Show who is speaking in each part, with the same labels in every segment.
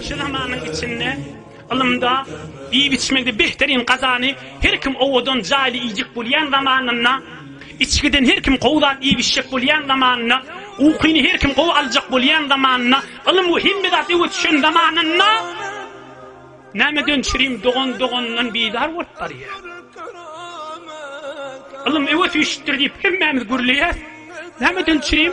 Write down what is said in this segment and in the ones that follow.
Speaker 1: Şu zamanyň içinde ylymda, iýip-içmekde behterýin gazany her kim owadan jaýly iýjek bolýan zamanynda, içgiden her kim gowy zat iýip-içjek bolýan zamanynda, ukyny her kim gowy aljak bolýan zamanynda, ylym we hemme zat öwe düşen zamanynda nämeden çürim dogan doganyndan bizar bolup barýar. Ylym öwe süýşüpdir diýip hemmämiz gürleýäris. Nämeden çürim?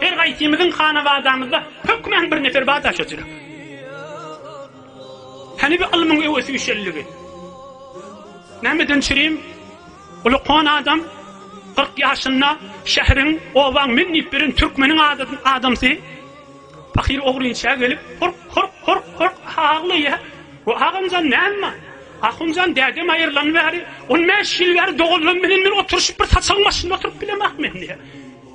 Speaker 1: Her gaýsymyzyň hanabadamyzda hökmän bir nefer bar daş oturak. Hany bu ylmyň öwesi üşelligi? Nämeden çürim? Uly kon adam 40 ýaşynda şäheriň, obaň men diýip beren türkmeniň adamsy pahyr ogrynça gelip hork hork hork hork aglaýar. Bu agamjan näme? Ahunjan dädem aýrylan bäri 15 ýyl bäri doganlarym bilen bir oturyşyp bir saçagyň başynda oturyp bilemek men diýär.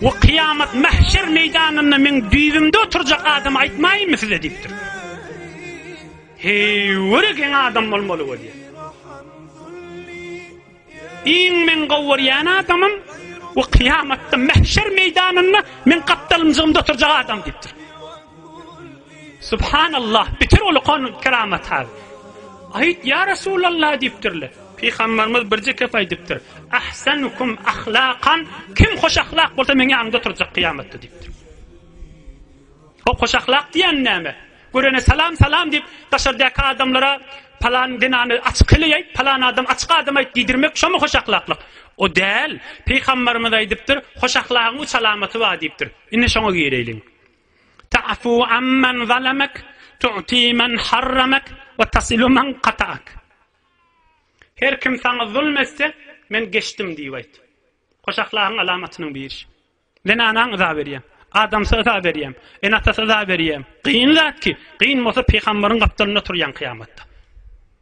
Speaker 1: We kyýamat mähşer meýdanynda meň düýbümde oturjak adama aýtmaýynmy size diýipdir. Heý, göre geň adam bolmaly we diýen. Iň men gowy görýän adamym we kyýamatda mähşer meýdanynda meň gapdalymjygymda oturjak adam diýipdir. Subhanallah bitir ol kon keramat hal. Aýt ýa Resulallah diýipdirler. Pygamberimiz birje kep aýdypdyr. Ahsanukum ahlaqan kim hoş ahlak bolsa meň ýanymda oturjak kyýamatda diýipdir. O hoş ahlak diýen näme? Görene salam salam diýip daşardaky adamlara palan zenany açyk heleýäýt, palan adam açyk adam aýt diýdirmek şomy hoş ahlaklyk? O däl. Pygamberimiz aýdypdyr, hoş ahlagyň üç alamaty bar diýipdir. Indi şoňa gireýliň. Ta'fu amman zalamak, tu'ti men harramak we tasilu men kata'ak. Her kim saňa zulm etse, men geçdim diýip aýt. Hoş ahlagyň alamatynyň biri. Zenana yza berýän, adamsa yza berýän, ene-atasa yza berýän. Kyn zat ki, kyn bolsa pygamberiň gapdalynda turýan kyýamatda.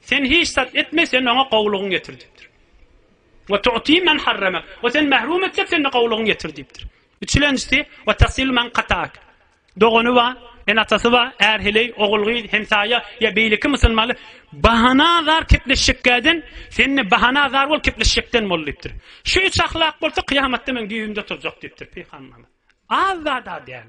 Speaker 1: Sen hiç zat etme, sen oňa gowulygyňy ýetir diýipdir. Ve tu'ti men harremek. O seni mährum etse, sen de gowulygyňy ýetir diýipdir. Üçlenjisi, ve tasil men kata'ak. Dogany bar, ene-atasy bar, är-heleý, ogul-gyz, hemsaýa ýa beýleki musulmanlar bahana azar kepleşjekkäden, sen-de bahana azar bol, kepleşjekden bol diýipdir. Şu üç ahlak bolsa, kyýamatda meň düýbümde turjak diýipdir Pygamberimiz. Az zat-a däl.